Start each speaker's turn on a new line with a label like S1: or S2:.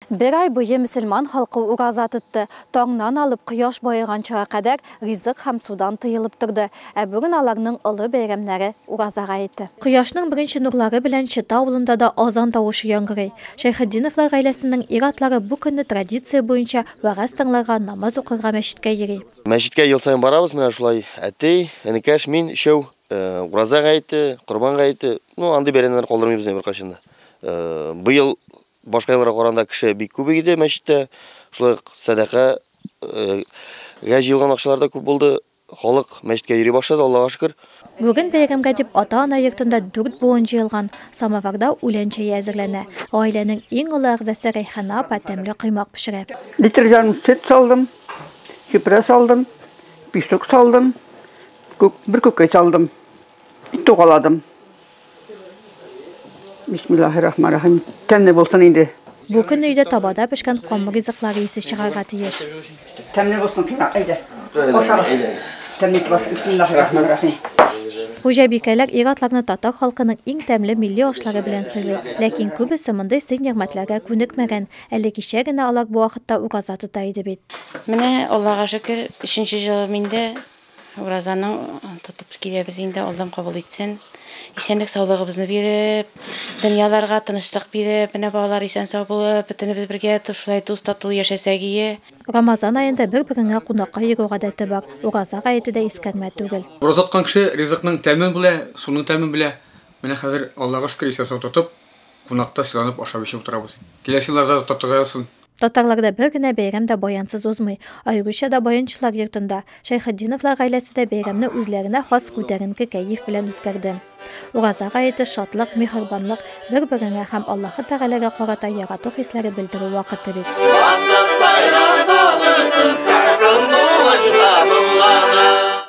S1: Бер ай буе мөселман халкы ураза тотты, таңнан алып кояш баеганчыга кадәр ризык һәм судан тыелып торды, ә бүген аларның олы бәйрәмнәре, Ураза гаете. Кояшның беренче нурлары белән Чыта авылында да азан тавышы яңгырый. Шәйхетдиновлар гаиләсенең ир-атлары бу көнне традиция буенча вәгазь тыңларга, намаз укырга мәчеткә йөри. Мәчеткә ел саен барабыз, менә шулай әти, энекәш, мин, өчәү. Ураза гаете, Корбан гаете, ну андый бәйрәмнәр калдырмыйбыз инде беркайчан да. Быел башка елларга караганда кеше бик күп иде мәчеттә. Шулай ук сәдака гә җыелган акчалар да күп булды. Халык мәчеткә йөри башлады, Аллага шөкер. Бүген бәйрәмгә дип ата-ана йортында дүрт буын җыелган, самоварда үлән чәе әзерләнә. Гаиләнең иң олы әгъзасы Рәйхана апа тәмле коймак пешерә. Литр җан сөт салдым, чүпрә салдым, пешек салдым, Күк, бер күкәй салдым. Бик тугаладым. Бисмиллаһиррахманиррахим. Тәмле булсын инде. Бу көн өйдә табада пешкән камыр ризыклары исе чыгарга тиеш. Тәмле булсын, тыңлап, әйдә. Ашагыз. Тәмле итеп ашагыз. Бисмиллаһиррахманиррахим. Хуҗабикәләр ир-атларны татар халкының иң тәмле милли ашлары белән сыйлый. Ләкин күбесе мондый сый-нигъмәтләргә күнекмәгән. Әле кичә генә алар бу вакытта ураза тота иде бит. Менә, Аллага шөкер, өченче җылым инде. Уразаның тотып киләбез инде, Аллам кабул итсен. Исәнлек саулыгыбызны биреп, дөньяларга тынычлык биреп, менә балалар исән сау булып, бөтенебез бергә шулай дус тату яшәсәк ие. Рамазан аенда бер-береңә кунакка йөрү гадәте бар, Ураза гаете дә искәрмә түгел. Ураза тоткан кеше ризыкның тәмен белә, суның тәмен белә. Менә хәзер, Аллага шөкер, исән-сау тотып, кунакта сыйланып ашап-эчеп утырабыз. Киләсе елларда да татырдай алсын. Татарларда бер генә бәйрәм дә баянсыз узмый. Аеруча да баянчылар йортында. Шәйхетдиновлар гаиләсе дә бәйрәмне үзләренә хас күтәренке кәеф белән үткәрде. Ураза гаете, шатлык, миһербанлык, бер-береңә һәм Аллаһы Тәгаләгә карата ярату хисләре белдерү вакыты бит. Басып сайрау тулысын сагсынлы очта моңлана.